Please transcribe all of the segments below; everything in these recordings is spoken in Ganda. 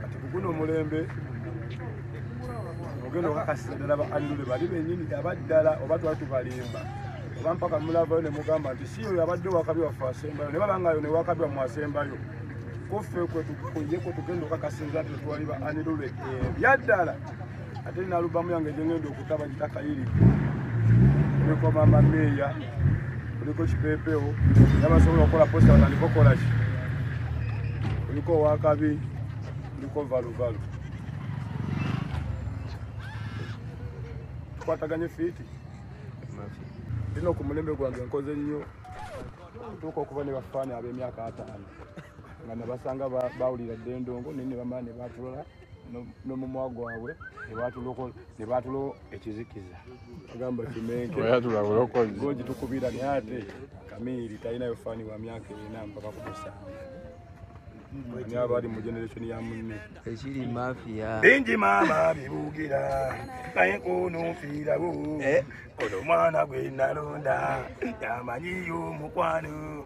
kati kuguno omulembe ogenda okakasisa ddala ba andule bali benyini abaddala oba twali tubalimba oba mpaka mulavayo ne mugamba nti si oyo abadde wakabi waffe asembayo ne babangayo ne wakabi wamu asembayo kuffe kwetukuye kwetugenda okakasinza nti twali ba andule ebyaddala ate nina alubamu yange gyengenda okuta bagita kayiri kuliko mama meeya kuliko kipepewo nabasobola okukola posta batandika okukolaki kuliko owakabi kuliko valuvalu tukwataganye fiiti ino ku mulembe gwange nkoze nnyo okutuuka okuba ne bafaani ab'emyaka ataano nga nabasanga bawulira dde endongo naye ne bamala ne batulala nomumwa gwabwe nebaatulo ekizikiza agamba kimenkeogitukubira naye ate kamiiri talinayo faani wa myaka erina mpaka kumusanvu ani abaali mu generation ya munne ekiri mafia bingi maama bibugira naye kunufiirawo eh? ono omwana gwe nalonda yamanyiyo omukwano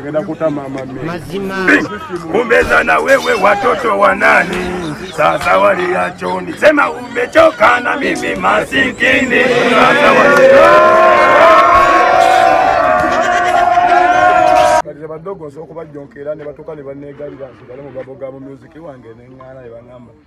Ngenda kuta mama mimi. Mazima. Umbeza na wewe watoto wa nani? Sasa waliachoni. Sema umechoka na mimi masikini. Sasa Kati badogo nsobola okubajonkera ne batuuka ne banneegalira nti bali mu babo ga mu music wange ne ŋŋaana ne baŋŋamba